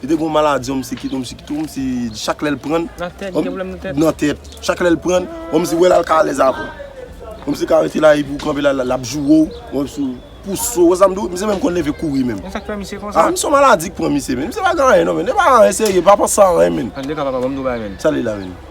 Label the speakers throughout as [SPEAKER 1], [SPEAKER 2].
[SPEAKER 1] Li te gon maladi yon msi kite yon msi kite yon msi chak lèl prann. Nan tèt li gen problèm nan tèt. Nan tèt. Chak lèl prann yon msi wè lal ka alèz avèw. Yon msi ka rete la epi ou kanpe la lap jourew. Yon msi pou sou wè sam diw msi menm konn leve kouri menm. Men sak fè misye konsa. A msi yon
[SPEAKER 2] maladi ki pran misye
[SPEAKER 1] men. Msi pa gen anyen non men. Li pa gen anyen serye pa panse a anyen men. An tou ka papa banm di yon bagay men.
[SPEAKER 2] Sa li la menm.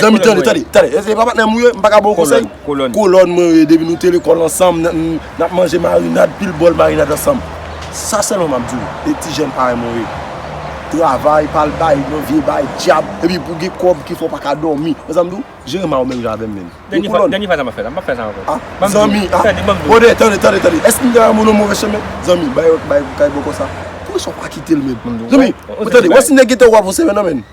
[SPEAKER 1] Zanmi m tande, tande, tande, e se pa patnè m ou ye, m pa ka ba w konsèy? Kolòn. Kolòn mwen ou ye, depi nou te lekòl ansanm, n ap manje marinad, pil bòl marinad ansanm. Sa sèlman m ap di w, e ti jèn parèy mwen ou ye, travay, pa al bay nan vye bay, dyab, epi pou gen kòb ki fè w pa ka dòmi. Wè sa m di w? Jere ma ou menm jan avè m menm. Dènye fwa, dènye fwa sa m ap fè
[SPEAKER 2] la, m p ap fè sa ankò. A, zanmi, a,
[SPEAKER 1] bròdè, tande, tande, tande, èske m te avè m ou nan move chemen? Zanmi, bay, bay kay bòkò sa. Poukisa w pa kite l menm? Zanmi, tande, wè si nèg gen tè ou pa pran sèvè nan men l.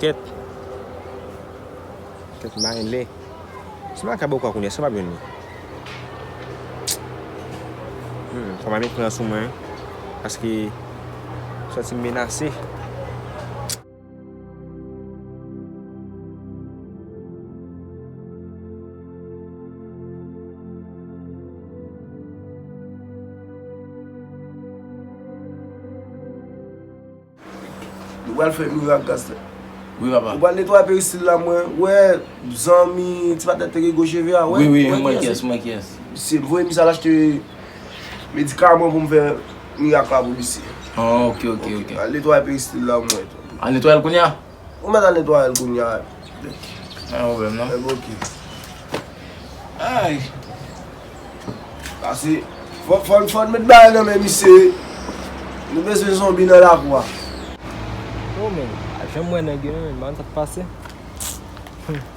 [SPEAKER 2] Kèt Kèt m pa gen lè Si m pa ka bò kò kounye a si m ap jwenn li Humm fò m al met pran sou mwen Paske m santi m menase.
[SPEAKER 1] Nou pral fè mirak Gastè. Wi papa. Ou pral
[SPEAKER 3] netwaye peristil la
[SPEAKER 1] mwen wè zanmi ti patnè teke gwo cheve a wè. Wi wi mwen wè kiyès mwen kiyès.
[SPEAKER 3] Misye voye misye al
[SPEAKER 1] achte medikaman pou m fè mirak la pou misye. Ok ok
[SPEAKER 3] ok. Al netwaye peristil
[SPEAKER 1] la mwen. Al netwaye l kounya.
[SPEAKER 3] Ou mèt al netwayel
[SPEAKER 1] kounya. Mwen
[SPEAKER 3] yon vèm nan. Epi ok.
[SPEAKER 1] Ayy. Pase. Fòn fòn mèt bagay nan men misye. Nou bezwen zonbi nan lakou a.
[SPEAKER 4] Oh men. Al fèm wè nèg yo men. Banm sa k pase. Humm.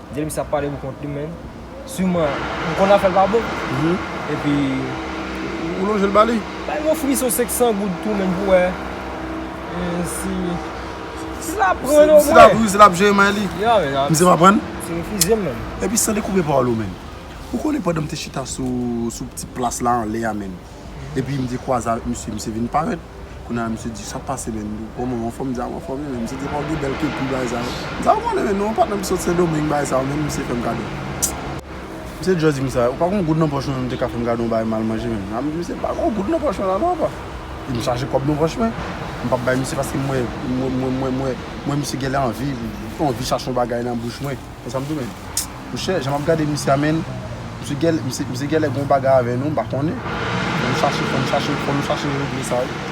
[SPEAKER 4] Dil misye ap pale pou kont li menn Sûrement li konn afèl pa bon Epi Ou
[SPEAKER 1] lonjel ba li. Bay mwen frison
[SPEAKER 4] 500 goud tou menn pou wè si Si sa ap pran o mwen. Si lap jere may
[SPEAKER 1] li. Misye pa pran.
[SPEAKER 4] Misye
[SPEAKER 1] refize m menn.
[SPEAKER 4] Epi san dekoupe pawòl
[SPEAKER 1] ou menn. Ou konnen pandan m te chita sou ti plas la anlè a menn. Epi m te kwaze avèk misye, misye vin parèt. Kounye a misye di, sa k pase menn? Kòman ou anfòm? M di, a m anfòm wi men. Misye di, epa ou gen bèl ke kou bagay sa yo. M di, a ou konnen menn, non patnè m sot Sendomeng bagay sa yo menn. Misye fè m kado. Misye just di m sa, ou pa gon goud nan pòch ou menm te ka fè m kado ou bay mal manje menm. M di misye, m pa gon goud nan pòch mwen la non apa. Epi m chaje kòb nan pòch mwen. M pa bay misye paske m wè, m wè misye genlè anvi, li anvi chache yon bagay nan bouch mwen. Bon sa m tounen. Monchè jan map gade misye a menn misye gèlè misye gèlè gon bagay avè nou m pa konnen fò nou chache fò nou chache fò nou chache regle sa wi.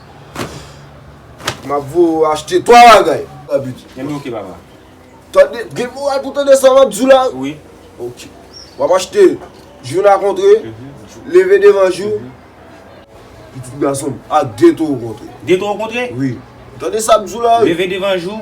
[SPEAKER 1] Map voye ou achte 3 bagay. Ebyen ok papa.
[SPEAKER 3] Tande,
[SPEAKER 1] gen moral pou tande sa map di w la? Wi. Ok. Wap achte jou na kontre, leve devan jou, pitit gason m ak gen tou w kontre. Gen tou w kontre? Wi.
[SPEAKER 3] Tande sa
[SPEAKER 1] m di w la? Leve devan jou.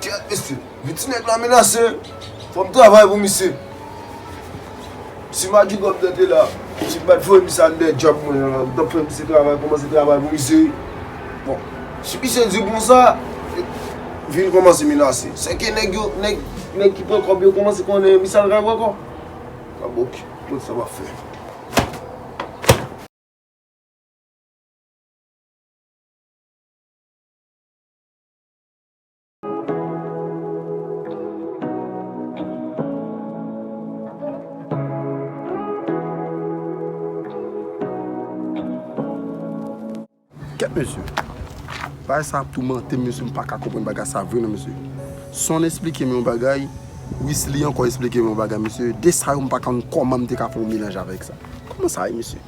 [SPEAKER 3] Kyèt mesye,
[SPEAKER 1] men ti nèg la menase, fò m travay pou misye. Si Major Gòbnè te la, misye pa t voye misye al dèyè djòb mwen an, m t ap fè misye travay, kòmanse travay pou misye. Bon, si misye di konsa, vin kòmanse menase. Sèke nèg yo, nèg, nèg ki pran kòb yo kòmanse konnen misye al travay ankò. A bon, ki, bon sa m ap fè.
[SPEAKER 5] Kèt mesye, bagay sa ap toumantem mesye m paka konprann bagay sa vre non mesye. Son esplikem yon bagay, Wisly ankò esplikem yon bagay mesye, 2 sa yo m paka konn kòman m te ka fè yon melanj avèk sa. Kòman sa ye mesye?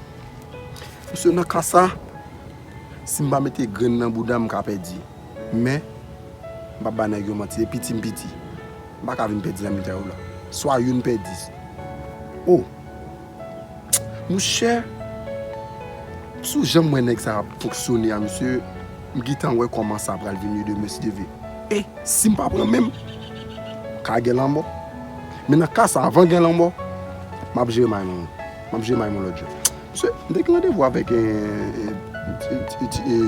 [SPEAKER 5] Mesye nan ka sa, si m pa mete grenn nan boudam m ka pèdi. Men, m p ap bay nèg yo manti, depi ti m piti, m pa ka vin pèdi nan mitan yo la. Swa youn pèdi. O! Mouche, si w janm wè nèg sa ap fonksyone a msye, m gintan wè kòman sa pral vin ye demen si Dye vle. E, si m pa pran men m, ka gen lanmò. Men nan ka sa, anvan gen lanmò, m ap jere may mwen. M ap jere may mwen lòt jan. Mesye, m te gen randevou avèk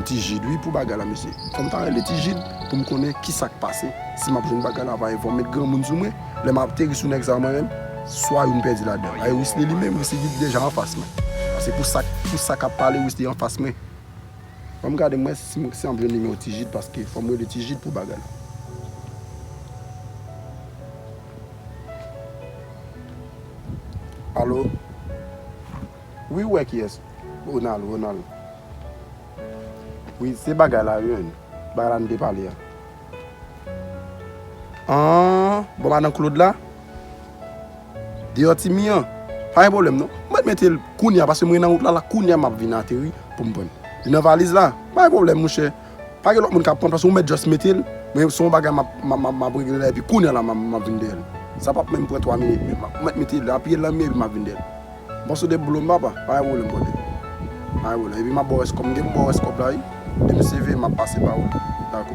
[SPEAKER 5] Ti Jid wi pou bagay la mesye. Fò m ta rele Ti Jid pou m konnen ki sa k pase. Si m ap jwenn bagay la ava e fò m met granmoun sou mwen. Lè m ateri sou nèg sa yo mwen menm, swa yo m pèdi ladan. Aye Wisly li menm, Wisly ki te deja anfas mwen. Pase pou sa pou sa k ap pale Wisly anfas mwen. Fò m gade m wè si m ap jwenn nimewo Ti Jid paske fò m rele Ti Jid pou bagay la. Allo Wi ou wè kiyès Ronald Ronald Wi se bagay la wi Bagay la nou te pale a Aah bon madan Claude la Deyò ti mi an Pa gen pwoblèm non Mwen t mete l kounya paske mwen nan wout la la kounya map vin ateri poum prann Li nan valiz la Pa gen pwoblèm mouche Pa gen lòt moun k ap pran plas ou, ou mèt just mete l, men se yon bagay m ap regle la epi kounye a la m ap vin dèyè l. Sa p ap menm pran 3 minit menm. Ou mèt mete l, apiye l nan mi epi m ap vin dèyè l. M pase w 2 boulom papa, pa gen pwoblèm brother. Pa gen pwoblèm. Epi m ap ba w rès kòb. M gen pou m ba w rès kòb la wi. Depi m save, m ap pase ba w l. Dakò.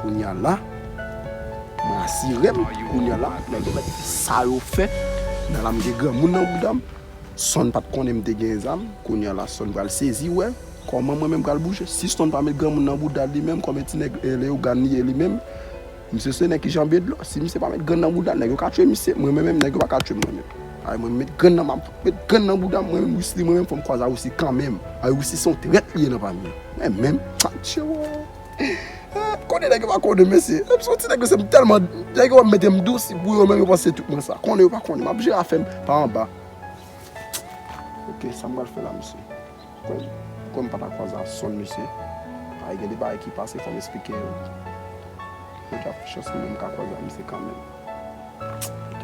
[SPEAKER 5] Kounye a la, mwen asire m, kounye a la, nèg yo mèt fè sa yo fè. Kounye a la m gen granmoun nan bouda m. Son pat konnen m te gen zam, kounya la Son pral sezi wè kòman mwen menm pral bouje. Si Son pa met granmoun nan boudal li menm kòmè ti nèg Leyogan li ye li menm, misye se nèg ki janbe dlo. Si misye pa met grann nan boudal nèg yo ka tue misye, mwen menm nèg yo pa ka tue m mwen menm. Ay mwen met grann nan map met grann nan boudam mwen menm Wisly mwen menm fòm kwaze a Wisly kanmenm. Ay Wisly se yon trèt li ye nan pami yo. Mwen menm Atchewoo. Konnen nèg yo pa konnen mesye. M son ti nèg mesye m tèlman, nèg yo wè m mete m dous pou yo menm yo panse tout mwen sa. Konnen yo pa konnen. M ap jere afè m pa anba. Ok sa m pral fè la mesye. Kòm m pa ta kwaze ak son mesye, paske gen de bagay ki pase fò m esplike yo. Mwen ta pran chans mwen menm m ka kwaze ak misye kanmenm. Ok.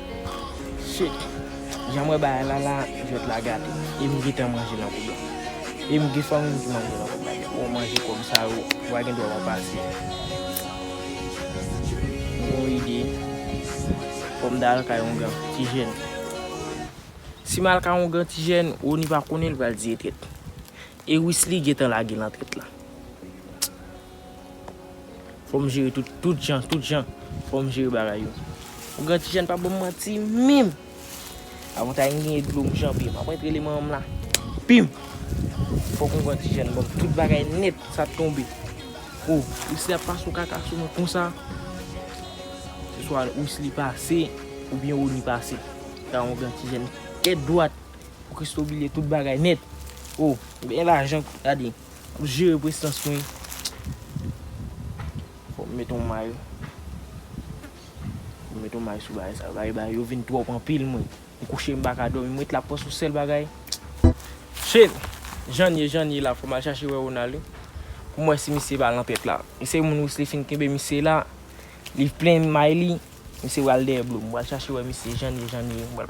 [SPEAKER 6] Shit! Janm wè bagay la la jwèt la gate e m gentan manje nan kob la. E m gen fanmi m ki manje nan kob la tou. Wè w manje kob sa yo wa gen dwa pa pase. M gen yon ide fò m ta al kay yon gran ti jèn. Si m al kay yon gran ti jèn Rony pa konnen l pral di e trèt. E Wisly gentan lage nan trèt la. Fòm jere tout tout jan tout jan fòm jere bagay yo. Ou gen tijèn pa banm manti minm. Avantay m genyen dlo m janbe map antre li manmanm la pim fok ou gen tijèn banm tout bagay nèt sa t tonbe oh wisly ap pase yon kaka sou mwen konsa se swa wisly pase oubyen rony pase ta yon gen tijèn tèt dwat pou christoo bliye tout bagay nèt oh gen lajan gade M jere prestans mwen. Fòk m met yon may. Fòk m met yon may sou bagay sa. Bagay bagay yo vin twòp anpil mwen. M kouche m pa ka dòmi. M ret la panse yon sèl bagay. Shit! Jan n ye jan n ye la fòk m al chache wè Ronald wi. Pou m wè si misye pa lan pèt la. Misye gen moun Wesley fin kenbe misye la. Li plen may li. Misye pral dèyè Blue. M pral chache wè misye jan n ye, jan n ye. M pral.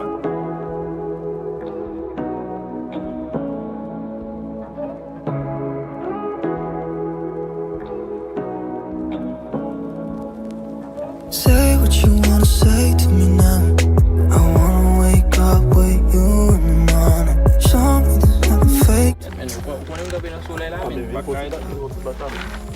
[SPEAKER 6] Ou
[SPEAKER 7] konnen m kanpe nan solèy la men. M pa ka rete.